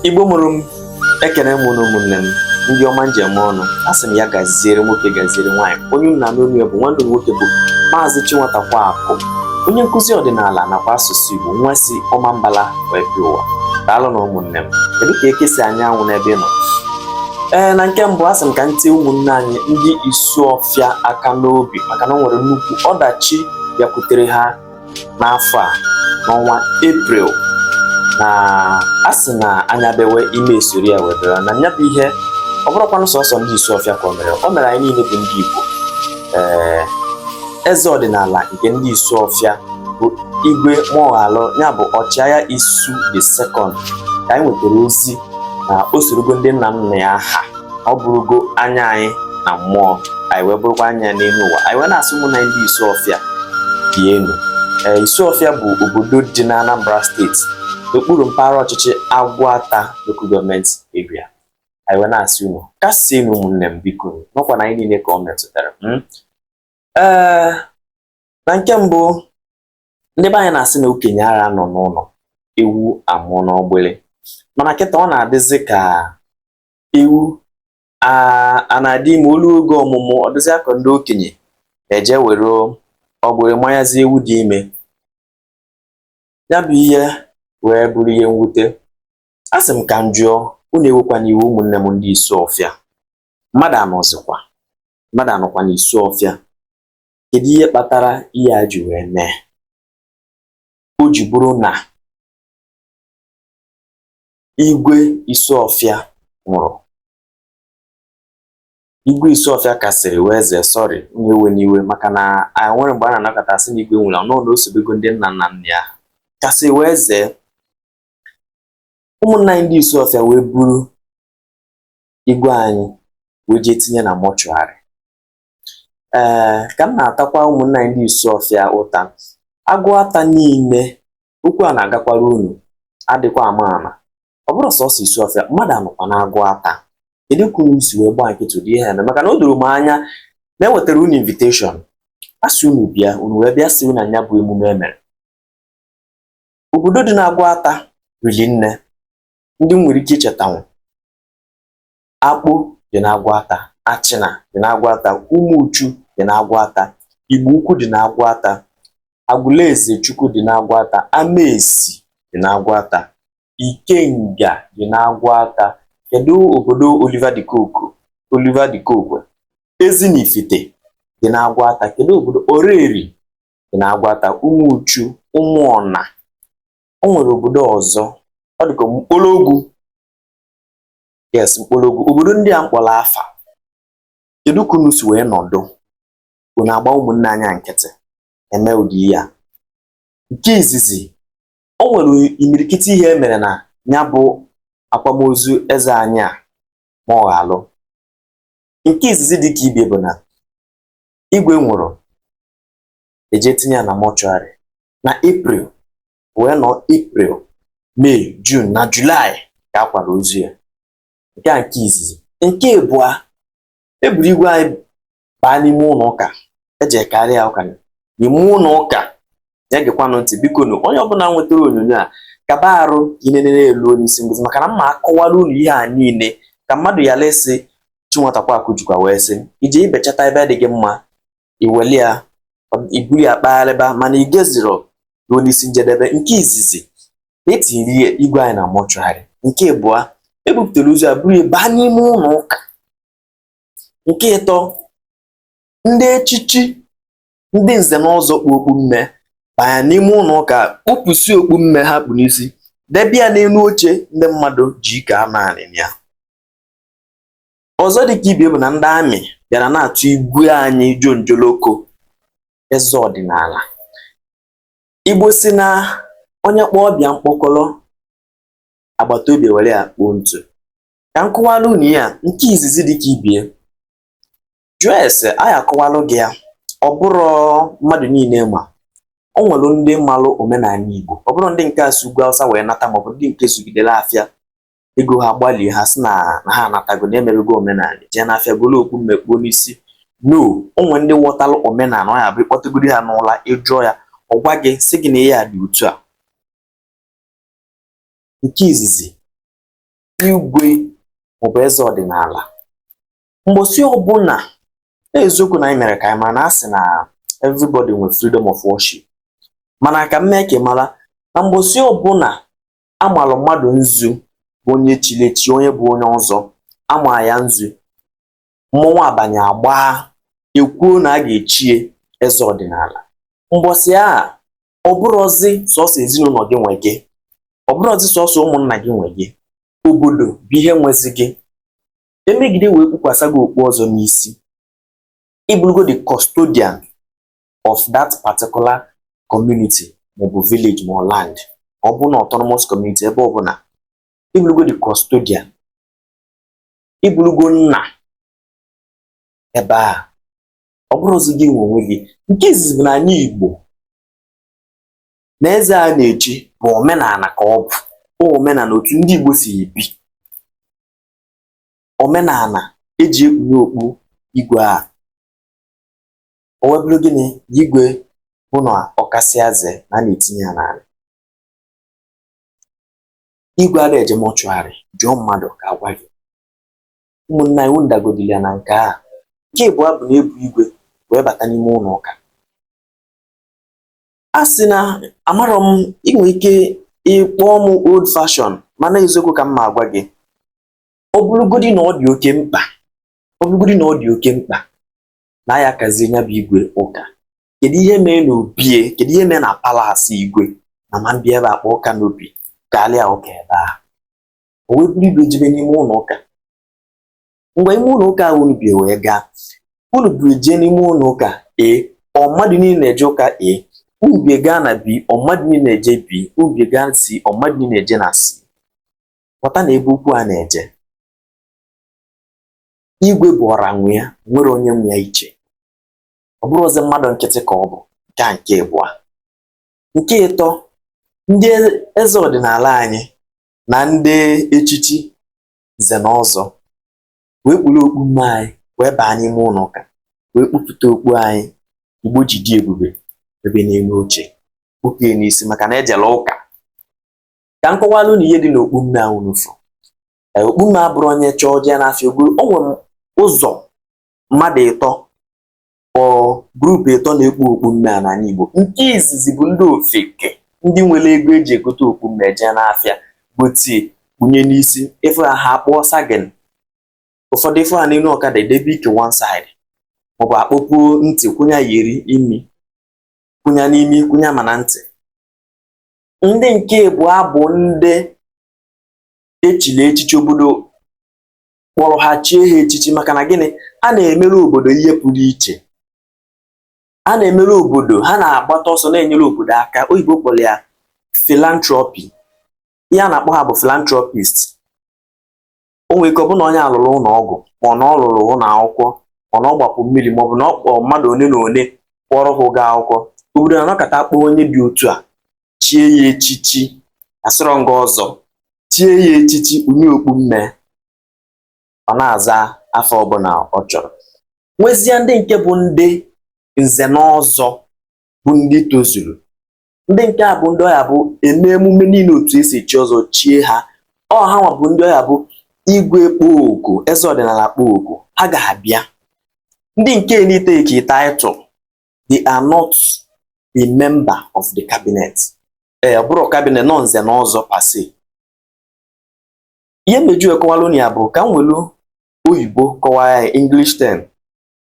igbo mụrụ m ekene m unu ụmụnne m ndị ọma m ji eme ọnụ a sị m ya gaziere nwoke gaziere nwaanyị onye unu na-anụ onu ya bụ nwanne nwoke bụ maazị Chinwatakwaakụ onye nkụzi ọdịnala nakwa asụsụ Igbo nwa si Ọmambala wee bịa ụwa daalụ nụ ụmụnne m kedu ka eke si anya anwụ n'ebe ị nọ ee na nke mbụ asị m ka m tie ụmụnne anyị ndị Isuọfịa aka n'obi maka na ọ nwere nnukwu ọdachi bịakwutere ha n'afọ a n'ọnwa eprel na a sị na anya bewe imi esoro ya wee bere na nya bụ ihe ọ bụrọkwanụ sọsọ ndị Isuọfịa ka o mere o mere anyị niile bụ ndị Igbo ee eze ọdịnala nke ndị Isuọfịa bụ igwe Mụọghalụ ya bụ ọchịagha isu the second ka anyị nwetara ozi na o sorogo ndị nna nna ya ha ọ bụrụgo anya anyị na mmụọ anyị wee bụrụkwa anya n'elu ụwa anyị wee na-asị ụmụnna ndị Isuọfịa dienụ ee Isuọfịa bụ obodo dị na Anambra steeti n'okpuru mpaghara ọchịchị Aguata local government area anyị wee na-asị unu kasienụ ụmụnne m biko n'ọkwa na anyị niile ka ọ metụtara hmm? ee na nke mbụ ndị be anyị na-asị na okenye ara anọ n'ụlọ ewu amụọ n'ọgbụlị mana kịta ọ na-adịzi ka ewu a na-adị ime o luo oge ọmụmụ ọ dịzị akọ ndị okenye eje were ọgbụrị manyazi ewu dị ime ya bụ ihe wee bụrụ ihe mwute a sị m ka m jụọ unu ewekwana iwe ụmụnne m ndị Isuọfịa mmadụ anọzikwa mmadụ anọkwa n'Isuọfịa kedu ihe kpatara ihe a ji wee mee o ji bụrụ na Igwe Isuọfịa nwụrụ. Igwe Isuọfịa kasịrị wee zee sọrị unu ewena iwe maka na enwerọ mgbe a na-anọkata asị na igwe nwụrụ anwụ na o sobego ndị nna nna nna ya kasị wee zee ụmụnna anyị ndị Isuọfịa wee buru igwe anyị wee jee tinye na mọchụarị ee ka m na-atakwa ụmụnna anyị ndị Isuọfịa ụta Aguata niile okwu a na-agakwara unu adịkwa ama ama ọ bụrọ sọsọ Isuọfịa mmadụ anọkwa n'Aguata kedu ka unu si wee gbaa nkịtị ụdị ihe a emee maka na o doro m anya na e wetara unu inviteshọn a sị unu bịa unu wee bịasị na nya bụ emume e mere obodo dị n'Aguata riri nne ndị m nwere ike ichetanwu akpo dị n'aguata achịna dị n'aguata ụmụchu dị n'aguata igbo ukwu dị n'aguata agụlụezechukwu dị n'aguata amaesi dị n'aguata ikenga dị n'aguata kedu obodo Oliver de Coque ezinifite dị n'aguata kedu obodo oraeri dị n'aguata ụmụchu ụmụọna o nwere obodo ọzọ ọ dịka mkpologwu yes mkpologwu obodo ndị a m kpọrọ afa kedu ka unu si wee nọdụ unu agba ụmụnne anya nkịtị eme ụdị ihe a nke izizi o nwere imirikiti ihe e mere na ya bụ akwamozu eze anyị a ma ọ ghọ alụ nke izizi dị ka ibie bụ na igwe nwụrụ e je tinye ya na mortuary na april wee nọ April May June na July ka a kwara ozu ya nke a nke izizi nke abụọ e buru igwe anyị baa n'ime ụlọ ụka e je karị ya ụka n'ime ụlọ ụka ya gekwanụ ntị biko nụ onye ọbụla nwetara onyonyo a kaba arụ ka i nenere luo n'isi ngwụsị maka na m ma-akọwara unu ihe a niile ka mmadụ ya lesị chinwatakwa akụjukwa wee sị i jee bechata ebe dị gị mma i weli ya i buru ya kpagharịba mana i geziro ruo n'isi njedebe nke izizi e tinyere igwe anyị na mortuary nke abụọ e bupụtara ozu ya buru ya baa n'ime ụlọ ụka nke ịtọ ndị echichi ndị nze na ọzọ kpu okpu mme banya n'ime ụlọ ụka kpupụsị okpu mme ha kpu n'isi debe ya n'elu oche ndị mmadụ ji ike anọ anị na ya ọzọ dị ka ibie bụ na ndị army bịara na-atụ igwe anyị jonjoloko eze ọdịnala igbo sị na onye kpọọ ọba ya mkpọkọrọ agbata obi were ya kpoo ntụ ka m kọwara unu ya nke izizi dị ka ibie jụọ ese anyị akọwalụ gị ya ọ bụrọ mmadụ niile ma o nwere ndị malụ omenala igbo ọ bụrọ ndị nke a si ugwu awụsa wee nata maọbụ ndị nke zụgidere afịa ego ha gbalie ha sị na ha anatago na emebego omenala jee n'afịa golo okpu mme kpuo n'isi no o nwe ndị ghọtara omenala ọ ya-abụ ị kpọtegodi ha n'ụla ị jụọ ya ọ gwa gị sị gị na ihe a dị otu a nke izizi igwe maọbụ eze ọdịnala mbọsị ọbụla eziokwu na anyị mere ka anyị mara na a sị na everybody nwere freedom of worship mana ka m mee ka ị mara na mbọsị ọbụla amalụ mmadụ nzu bụ onye chili echi onye bụ onye ọzọ ama ya nzu mmọnwụ abanye agbaa ekwuo na a ga-echie eze ọdịnala mbọsị a ọ bụrọzi sọsọ ezinụlọ gị nwe gị ọ bụrọzi sọsọ ụmụnna gị nwe gị obodo bụ ihe nwezi gị emegide wee kpukwasa gị okpu ọzọ n'isi ị bụrụgo the custodian of that particular community maọbụ village ma land ọ bụ na autonomous community ebe ọbụla ị bụrụgo the custodian ị bụrụgo nna ebe a ọ bụrọzi gị nwe onwe gị nke izizi bụ na anyị Igbo na eze a na-echi bụ omenala ka ọ bụ omenala otu ndị Igbo si ebi omenala eji ekpunye okpu igwe a O wee bụrụ gịnị? Igwe bụ na ọ kasịa zee na a na-etinye ya n'ala. Igwe ada eje mortuary, jụọ mmadụ ka a gwa gị. Ụmụnna anyị, unu dagodili ya na nke a. Nke ịbụa bụ na ebu igwe wee bata n'ime ụlọ ụka. A sị na amarọ m ị nwere ike ịkpọ m old fashion mana eziokwu ka m ma agwa gị. Ọ bụrụgodị na ọ dị oke mkpa, ọ bụrụgodị na ọ dị oke mkpa, na ya kazie nya bụ igwe ụka kedu ihe mee na obie kedu ihe mee na palace igwe na ma bịa ebe akpọ ụka n'obi kara ya ụka ebe ahụ o wee buru igwe jebe n'ime ụlọ ụka ngwa ime ụlọ ụka ahụ unu bie wee gaa unu buru jee n'ime ụlọ ụka A ọ mmadụ niile na-eje ụka A unu bie gaa na B ọ mmadụ niile na-eje B unu bie gaa C ọ mmadụ niile na-eje na C ghọta na ebe okwu a na-eje igwe bụ ọra nwe ya nwerọ onye nwe ya iche ọ bụrọ ozu mmadụ nkịtị ka ọ bụ nke a nke ịbụa nke ịtọ ndị eze ọdịnala anyị na ndị echichi nze na ọzọ wee kpuru okpu mme anyị wee baa n'ime ụlọ ụka wee kpupụta okpu anyị igbo ji dị ebube debe n'elu oche kpupụ ya n'isi maka na ejela ụka ka m kọwalụ unu ihe dị n'okpu mme ahụ unu fụ okpu mme abụrọ onye chọọ jee n'afịa o goro o nwere ụzọ mmadụ ịtọ or group ịtọ na-ekpu okpu mme a n'ala Igbo nke izizi bụ ndị ofeke ndị nwere ego eji egote okpu mme jee n'afịa gotie kpunye n'isi ị fụ ha akpụọ sagging ụfọdụ ị fụ ha n'elu ọkada edebe ike one side maọbụ akpọpuo ntị kwụnye earring kwụnya n'imi kwụnya ma na ntị ndị nke ịbụa bụ ndị echili echichi obodo kpọrọ ha chie ha echichi maka na gịnị a na-emere obodo ihe pụrụ iche a na-emere obodo ha na-agbata ọsọ na-enyere obodo aka oyibo kpọrọ ya philanthropy ihe a na-akpọ ha bụ philanthropist o nwere ike ọ bụ na onye a lụrụ ụlọ ọgwụ ma ọ na ọ lụrụ ụlọ akwụkwọ ma ọ na ọ gbapu mmiri ma ọ bụ na ọ kpọọ mmadụ one na one kwụọrọ ha ụgwọ akwụkwọ obodo na-anọkọta kpọọ onye dị otu a chie ya echichi asịrọ m gị ọzọ chie ya echichi onye okpu mme ọ na-aza afa ọbụla ọ chọrọ nwezie ndị nke bụ ndị nze na ọzọ bụ ndị tozuru ndị nke a bụ ndị ọ ya-abụ emee emume niile otu esi echi ọzọ chie ha ọ ha nwa bụ ndị ọ ya-abụ igwe kpọọ oku eze ọdịnala kpọọ oku ha ga-abịa ndị nke na-etake title they are not a member of the cabinet ee eh, ọ bụrọ cabinet no nze na ọzọ per se ihe m na-eji akọwalụ unu ya bụ ka m welu oyibo kọwaa ya english term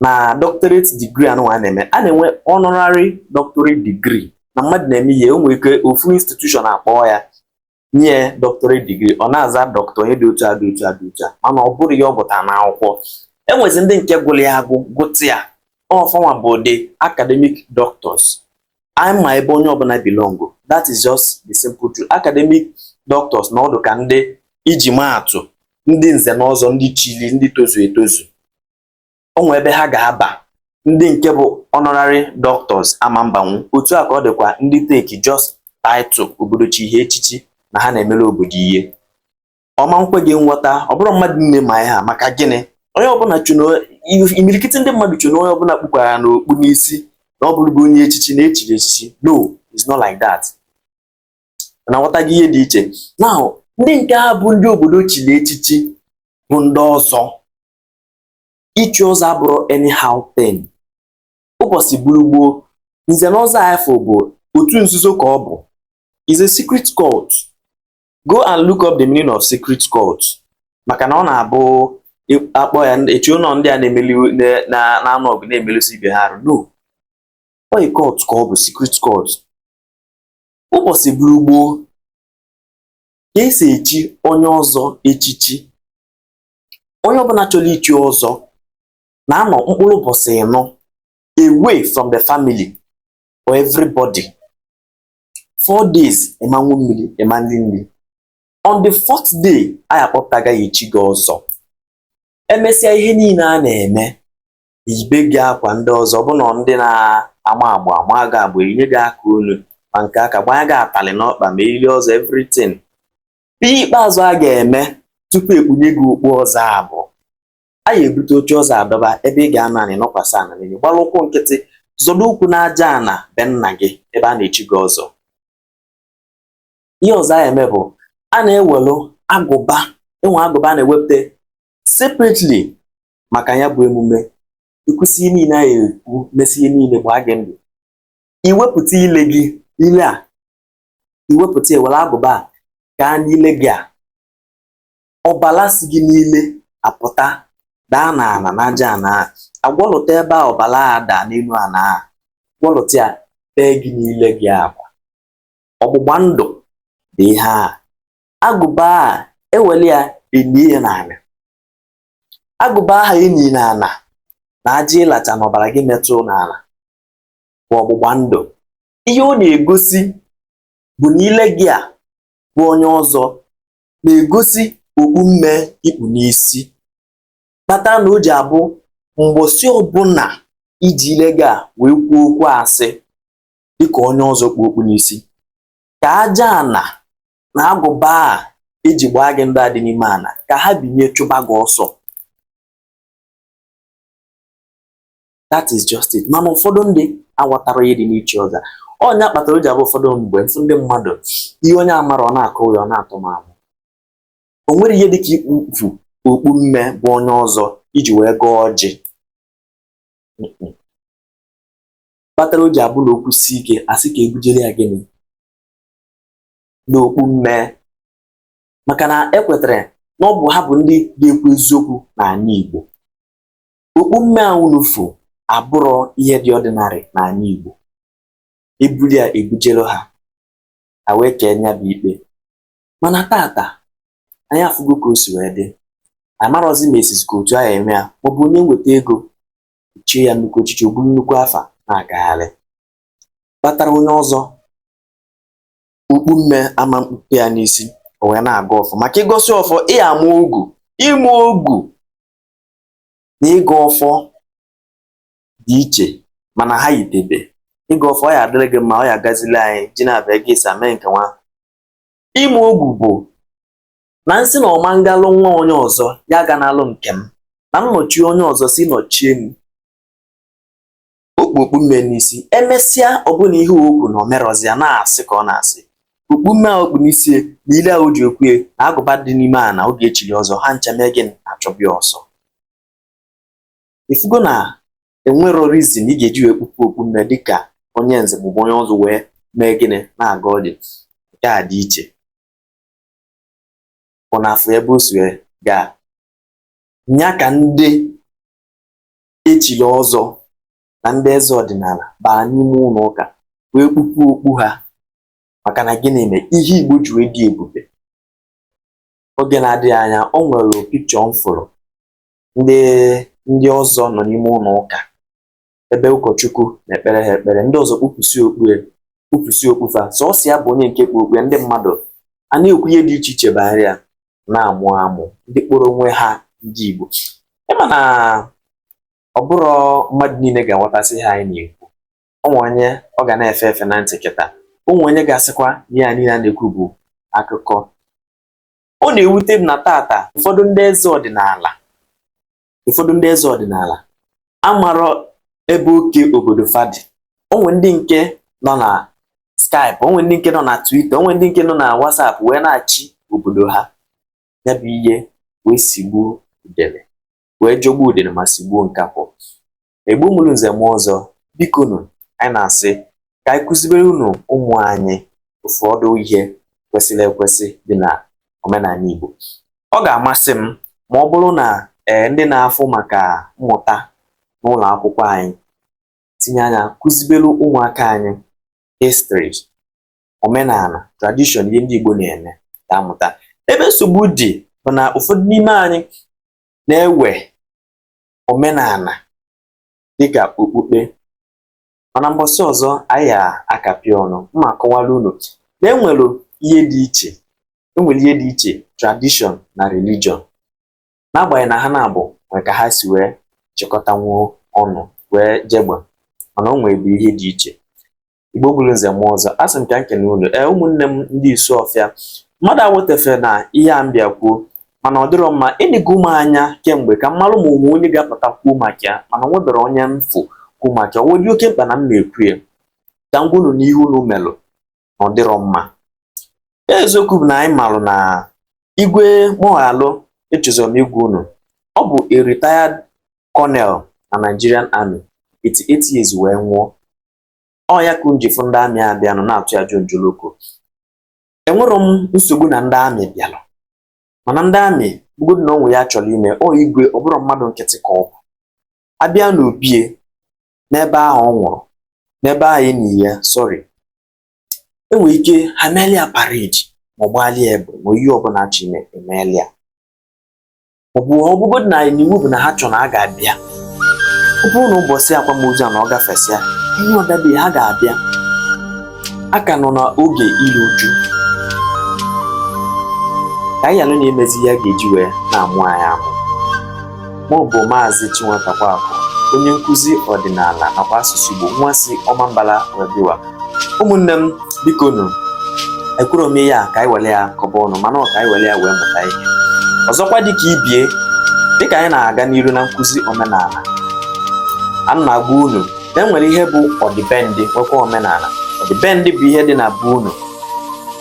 na doctorate degree anụ a na-eme a na-enwe honorary doctorate degree na mmadụ na-eme ihe o nwere ike ofu institution akpọọ ya nye doctorate degree ọ na-aza doctor onye dị otu a dị otu a dị otu a mana ọ bụrọ ya ọ gụta n'akwụkwọ enwezi ndị nke gụrụ ya agụ gụta ya ọ fa nwa bụ ndị academic doctors anyị ma ebe onye ọbụla belong that is just the simple truth academic doctors na ọ dụ ka ndị eji maa atụ ndị nze na ọzọ ndị chili ndị tozu etozu o nwe ebe ha ga-aba ndị nke bụ honorary doctors ama mbanwu otu a ka ọ dịkwa ndị take just title obodo chi ha echichi na ha na-emere obodo ihe ọ ma nkwe gị nghọta ọ bụrọ mmadụ niine ma ya maka gịnị onye ọbụla imirikiti ndị mmadụ che na onye ọbụla kpukwara okpu n'isi na ọ bụrụgo onye echichi na echiri echichi no it's not like that na nghọta gị ihe dị iche now ndị nke a bụ ndị obodo chiri echichi bụ ndị ọzọ ichi ọzọ abụrọ anyhow thing ụbọsị gburu gboo nze na ọzọ afụ bụ otu nzuzo ka ọ bụ is a secret cult go and look up the meaning of secret cult maka na ọ na-abụ akpọ ya eche na ọ ndị a na-emeli na-anụ ọgụ na-emelụsi ibe ha arụ no ọ a cult ka ọ bụ secret cult ụbọsị gburu gboo ka esi echi onye ọzọ echichi onye ọbụla chọrọ ichi ọzọ na-anọ mkpụrụ ụbọsị ịnọ away from the family or everybody four days ị ma ṅụ mmiri ị ma nri nri on the fourth day anyị akpọpụta gị gaa echi gị ọzọ emesịa ihe niile a na-eme eyibe gị akwa ndị ọzọ ọbụna ndị na-ama agba ama gị agba enye gị aka onu ma nke aka gbanye gị atalị n'ọkpa ma eriri ọzọ everything ihe ikpeazụ a ga-eme tupu e kpunye gị okpu ọzọ a bụ a ya ebute oche ọzọ adọba ebe ị ga-anọ anị nọkwasị ana n'enu gbara ụkwụ nkịtị zọdo ụkwụ n'aja ana be nna gị ebe a na-echi gị ọzọ ihe ọzọ a eme bụ a na-ewelụ agụba e nwe agụba a na-ewepụta separately maka ya bụ emume i kwusị ihe niile a ekwu mesị ihe niile gbaa gị ndụ i wepụta ile gị ile a i wepụta e were agụba a gaa n'ile gị a ọbala si gị n'ile apụta daa n'ala n'aja ana a gwọlụta ebe a ọbala a daa n'elu ana a gwọlụta ya tee gị n'ile gị ọ kwa ọgbụgba ndụ bụ ihe a agụba a e weli ya enyie ya n'ala agụba ahụ e nyi n'ala na aja ị lacha na ọbara gị metụ n'ala bụ ọgbụgba ndụ ihe ọ na-egosi bụ na ile gị a bụ onye ọzọ na-egosi okpu mmee i kpu n'isi kpatara na o ji abụ mgbọsị ọbụla i ji ile gị a wee kwuo okwu asị dịka onye ọzọ kpu okpu n'isi ka aja ana na agụba a e ji gbaa gị ndụ a dị n'ime ana ka ha binye chụba gị ọsọ that is just it mana ụfọdụ ndị aghọtarọ ihe dị n'ichi ọzọ ọ nya kpatara o ji abụ ụfọdụ mgbe m fụ ndị mmadụ ihe onye amarọ ọ na-akọ ya ọ na-atọ m amụ o nwere ihe dịka ikpu okpu mmee bụ onye ọzọ iji wee gọọ ọjị kpatara o ji abụ na okwu si ike a sị ka e bujere ya gịnị n'okpu mmee maka na e kwetara na ọ bụ ha bụ ndị ga-ekwu eziokwu n'ala Igbo okpu mmee awụlufo abụrụ ihe dị ọdịnarị n'ala Igbo e buli ya e bujelu ha ha wee kee nya bụ ikpe mana tata anyị afụgo ka o si wee dị anyị marọzi ma e sizi ka otu ahụ eme ya maọbụ onye nweta ego chie ya nnukwu echichi o buru nnukwu afa na-agagharị kpatara onye ọzọ okpu mmee ama mkpuke ya n'isi o wee na-agọ ọfọ maka ị gọsị ọfọ ị ama ogu ịma ogu na ịgọ ọfọ dị iche mana ha yitebe ịgọ ọfọ ọ ya adịrị gị mma ọ ya agazili anyị ji na-abịa gị esi ame nke nwa ịma ogu bụ na m sị na ọma ngalụ nwa onye ọzọ ya ga n'alụ nke m na m nọchie onye ọzọ si nọchie m o kpu okpu mme n'isi emesịa ọbụna ihe o kwu na o merọzi ya na-asị ka ọ na-asị okpu mme a o kpu n'isi na ile a o ji ekwue na agụba dị n'ime a na oge echiri ọzọ ha ncha mee gịnị achụbịa ọsọ ị fụgo na enwerọ reason ị ga-eji wee kpupụ okpu mme dịka onye nze maọbụ onye ọzọ wee mee gịnị na-aga ọdị nke a dị iche bụ na afọ ebe o si wee gaa nya ka ndị echiri ọzọ na ndị eze ọdịnala baa n'ime ụlọ ụka wee kpupụ okpu ha maka na gịnị mee ihe Igbo ji wee dị ebube oge na-adịghị anya o nwere picture m fụrụ ndị ọzọ nọ n'ime ụlọ ụka ebe ụkọchukwu na-ekpere ha ekpere ndị ọzọ kpupụsị okpue kpupụsị okpu fa sọsọ ya bụ onye nke kpu okpue ndị mmadụ ana-ekwu ihe dị iche iche banyere ya na-amụ amụ ndị kpọrọ onwe ha ndị Igbo ị ma na ọ bụrọ mmadụ niile ga-aghọtasị ihe anyị na-ekwu o nwe onye ọ ga na-efe efe na ntị kịtaa o nwe onye ga-asịkwa ihe a niile a na-ekwu bụ akụkọ ọ na-ewute m na taata ụfọdụ ndị eze ọdịnala ụfọdụ ndị eze ọdịnala amarọ ebe oke obodo fa dị o nwe ndị nke nọ na Skype o nwe ndị nke nọ na Twitter o nwe ndị nke nọ na WhatsApp wee na-achị obodo ha ya bụ ihe wee sigbuo udele wee jọgbuo udele ma sigbuo nkakwụ Igbo mụrụ nze mụọ ọzọ biko nụ anyị na-asị ka anyị kụziberenụ ụmụ anyị ụfọdụ ihe kwesịrị ekwesị dị na omenala Igbo ọ ga-amasị m ma ọ bụrụ na ee eh, ndị na-afụ maka mmụta n'ụlọ akwụkwọ anyị tinye anya kụzibere ụmụaka anyị history omenala tradition ihe ndị Igbo na-eme ka a mụta ebe nsogbu dị bụ na ụfọdụ n'ime anyị na-ewe omenala dịka okpukpe mana mbọsị ọzọ anyị akapịa ọnụ ma kọwara unu na e nwere ihe dị iche tradition na religion n'agbanyeghị na ha naabọ nwere ka ha si wee chịkọtanwuo ọnụ wee jegba mana o nwere bụ ihe dị iche Igbo mụrụ nze mụọ ọzọ asị m ka m kene unu ee ụmụnne m ndị Isuọfịa mmadụ awetefere na ihe a m bịa kwuo mana ọ dịrọ mma enego m anya kemgbe ka m malụ ma o nwe onye ga-apụta kwuo maka ya mana nweberọ onye m fụ kwuo maka ya ọ dị oke mkpa na m na-ekwu ya ka m gwa unu n'ihe unu melụ na ọ dịrọ mma eziokwu bụ na anyị malụ na Igwe Mụọghalụ echezọrọ m igwe unu ọ bụ a retired colonel na Nigerian Army 88 years wee nwụọ ọ ya ka m ji fụ ndị amị a bịanụ na-atụ ya jonjoloko enwerọ m nsogbu na ndị amị bịalụ mana ndị amị bụgodu na onwe ya chọrọ ime ọ igwe ọ bụrọ mmadụ nkịtị ka ọ bụ a bịa n'obie n'ebe ahụ ọ nwụrụ n'ebe ahụ enyi ya sorry enwere ike ha melia parade ma ọ gbalịa egbe ma ihe ọbụla a chọ ime emelia ọ bụ ọ bụgodu na iwu bụ na ha chọrọ na ha ga-abịa ọ bụrụ na ụbọchị akwamozu a na ọ gafesịa ihe ọdabi ha ga-abịa a ka nọ n'oge iri uju ka anyị alụ na-emezi ihe a ga-eji wee na-amụ anyị amụ m bụ maazị Chinwetakwakụ onye nkụzi ọdịnala nakwa asụsụ Igbo nwa si Ọmambala were bịa ụwa ụmụnne m biko nụ ekwurọ m ihe a ka anyị were ya kọba ọnụ mana ọ ka anyị were ya wee mụta ihe ọzọkwa dịka ibie dịka anyị na-aga n'iru na nkụzi omenala a na-agwa unu na enwere ihe bụ ọdịbendị nwekwa omenala ọdịbendị bụ ihe dị na be unu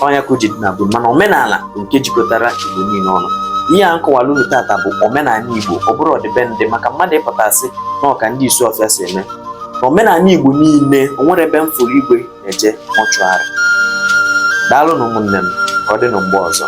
ọ nya ka o ji dị na be mana omenala bụ nke jikọtara igbo niile ọnụ ihe a m kọwara unu tata bụ omenala igbo ọ bụrọ ọdịbendị maka mmadụ ịpụta sị na ọ ka ndị Isuọfịa si eme n'omenala Igbo niile o nwerọ ebe m fụrụ igwe na-eje mortuary daalụ nụ ụmụnne m ka ọ dị nụ mgbe ọzọ